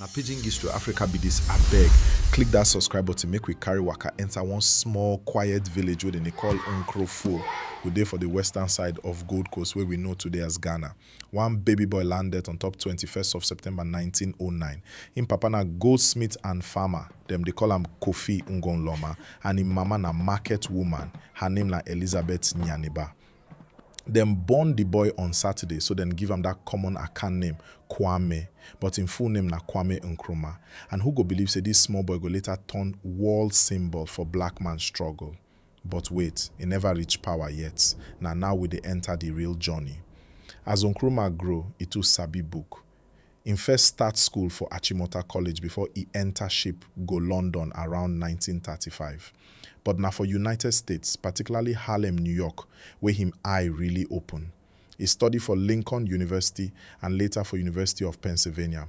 na pidgin gist to africa be dis abeg click dat subscribe button make we carry waka enter one small quiet village wey dem dey call nkrofo we dey for di western side of gold coast wey we know today as ghana One baby boy landet on top twenty first of September nineteen oh nine. Im papa na goldsmith and farmer, dem dey call am Kofi Ngonloma and im mama na market woman, her name na Elizabeth Nyaniba. Dem born di boy on Saturday so dem give am dat common Akan name, Kwame, but im full name na Kwame Nkrumah. And who go believe say dis small boy go later turn world symbol for black man struggle. But wait, e never reach power yet, na now we dey enter the real journey. As Nkrumah grow, e too sabi book. Im first start school for Achimota College before e enter ship go London around nineteen thirty five. But na for United States, particularly Harlem, New York, wey him eye really open. E study for Lincoln University and later for University of Pennsylvania,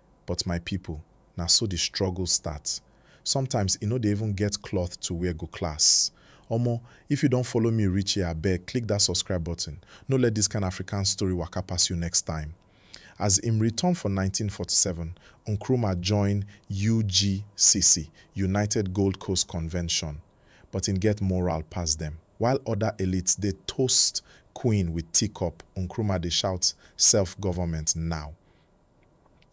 But my people, na so the struggle start. Sometimes i no dey even get cloth to wear go class. Omo, if you don follow me reach here abeg click that subscribe button, no let this kind Afrikaans story waka pass you next time. As im return for nineteen forty seven, Nkrumah join UGCC, United Gold Coast Convention, but im get moral pass dem. While other elites dey toast Queen with teacup, Nkrumah dey shout self-government now.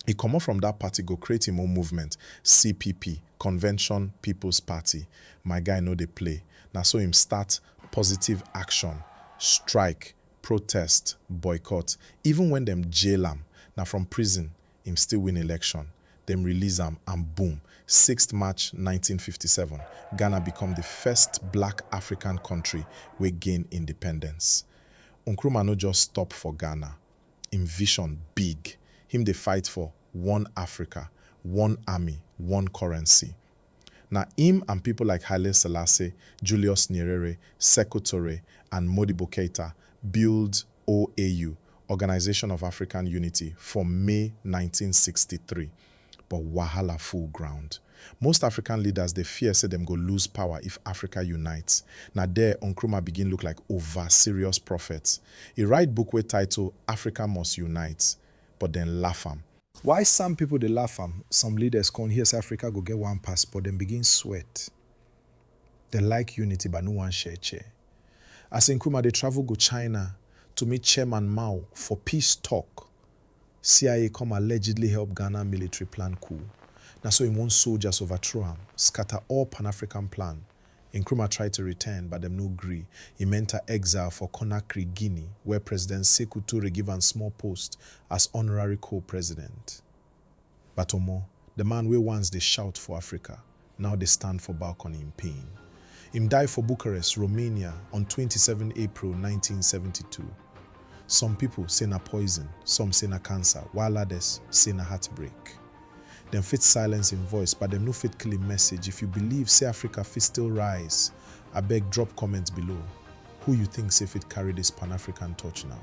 E comot from dat party go create im own movement, CPP, Convention People's Party, my guy no dey play, na so im start positive action, strike, protest, boycott, even wen dem jail am, na from prison im still win election, dem release am and boom, sixth March nineteen fifty seven, Ghana become di first black African country wey gain independence. Nkrumah no just stop for Ghana, Im vision big, him dey fight for one Africa, one army, one currency. Na im and pipo like Haile Selassie, Julius Nyerere, Sekou Toure and Modibo Keita build OAU, Organisation of African Unity, for May nineteen sixty three. But wahala full ground. Most African leaders dey fear say dem go lose power if Africa unite. Na there Nkrumah begin look like over-serious prophet. E write book wey title Africa Must Unite, but dem laugh am. While some people dey laugh am, some leaders come hear say Africa go get one passport, dem begin sweat. Dem like unity but no wan share chair. As Nkrumah dey travel go China to meet Chairman Mao for peace talk, CIA come allegedly help Ghana military plan coup, na so im own soldiers overthrow am, scatter all Pan-African plan, Nkrumah try to return but dem no gree, im enter exile for Conakry, Guinea, where President Sekou Toure give am small post as honorary co-president. But omo, the man wey once dey shout for Africa now dey stand for balcony in pain. Im die for Bucharest, Romania on twenty seven April nineteen seventy two. Some people say na poison, some say na cancer while others say na heartbreak. Dem fit silence im voice but dem no fit kill im message if you believe say Africa fit still rise abeg drop comment below who you think say fit carry this Pan-African torch now.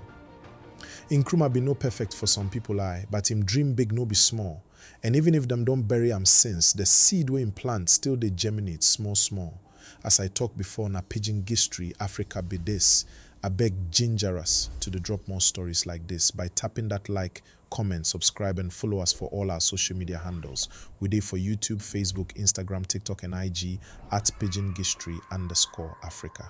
Nkrumah bin no perfect for some pipo eye but im dream big no be small and even if dem don bury am since the seed wey im plant still dey germinate small small as I talk before na pidgin gistory Africa be this abeg ginger us to dey drop more stories like this by tapping that like comment subscribe and follow us for all our social media handles we dey for youtube facebook instagram tiktok and IG at pidgin gistory underscore Africa.